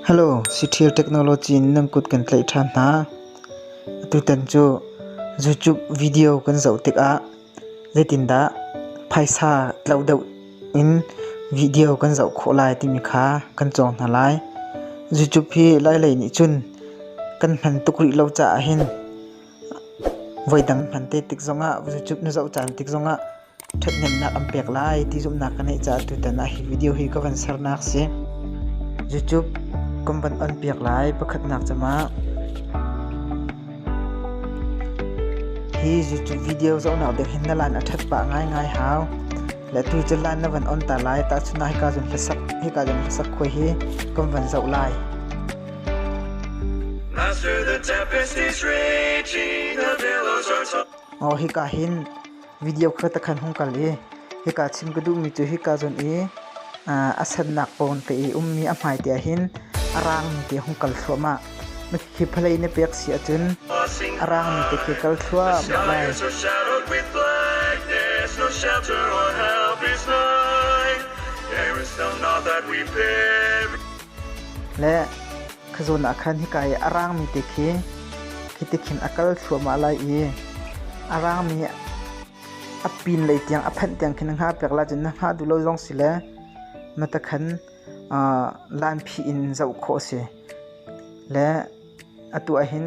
Hello, Cithial Technology in nan kut kan tlaih ṭhan hna. Atutan cu YouTube video kan zoh tikah zeitindah phaisa tloh deuh in video kan zoh khawh lai timi kha kan cawng hna lai. YouTube hi lailei nih cun kan hman tuk rih lo caah hin voidang hman te tik zongah YouTube na zoh caan tik zongah ṭhathnemnak an pek lai ti zumhnak ka ngeih caah tutan ah hi video hi ka van sernak a si. YouTube kan van on piak lai pakhatnak cama hi YouTube video zohnak ding hin na lan a ṭhat pah ngaingai hau le tu cu lan na van on ta lai ta chuna hika zun hlasak hika zun hlasak khoi hi kan van zoh lai Master the tempest is raging the billows are tall Oh hika hin video khata khan hung kal i hika chim ka duhmi cu hika zun i a sennak pawn ka i ummi a hmaite ah hin a raangmi te hung kal thluahmah hi phalei na pek si ahcun a raangmi te khi kal thluahmah lai le Kha zawn ah khan hika i a rangmi te khi khi ti khin a kal thluahmah lai i a rangmi a pinlei tiang a phanh tiang khin na hngah piak lai cun na hngah duh lo zong si le na ta khan lanphi in zoh khawh a si. Le atu ah hin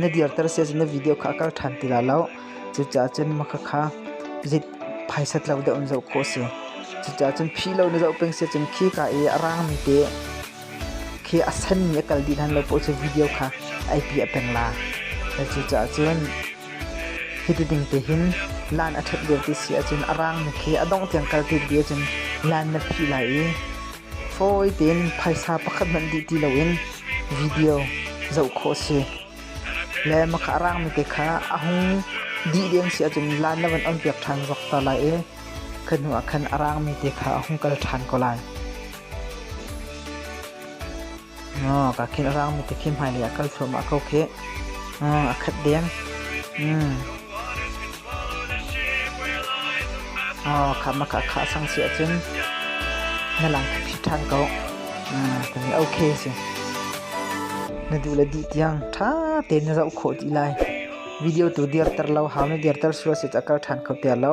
Na dirter si ahcun na video kha a kal ṭhan ti lai lo. Cucaah cun mahka kha rit phaisat lo deuh in zoh khawh a si. Cucaah cun phi lo na zoh peng si ahcun khika i a rangmi te khi a senmi a kal dih hlan lo paoh cu video kha IP a peng la. Cucaah cun hi ti ding te hin lan a ṭhat lio ti si ahcun a rangmi khi a dongh tiang kal ti dih ahcun lan na phih lai i fawi tein phaisa pakhat hmanh dih ti loin video zoh khawh a si. Le maka a raangmi te kha a hung dih deng si ahcun lan le van on piak ṭhan zok ta lai i kha hnuah khan a raangmi te kha a hung kal ṭhan ko lai. Oh, ka khil rang mi te khi hmai lei ah kal thluahmah ko khi. Oh, a khat deng. Mm. Oh, kha ma kha kha sang si ahcun na lang khi ṭhan ko. Mm, kan i okay si. Na duh le duh tiang ṭha tein na rauh khawh dih lai. Video tu dir ter lo, hau na dir ter sua si ta kal ṭhan kho ter lo.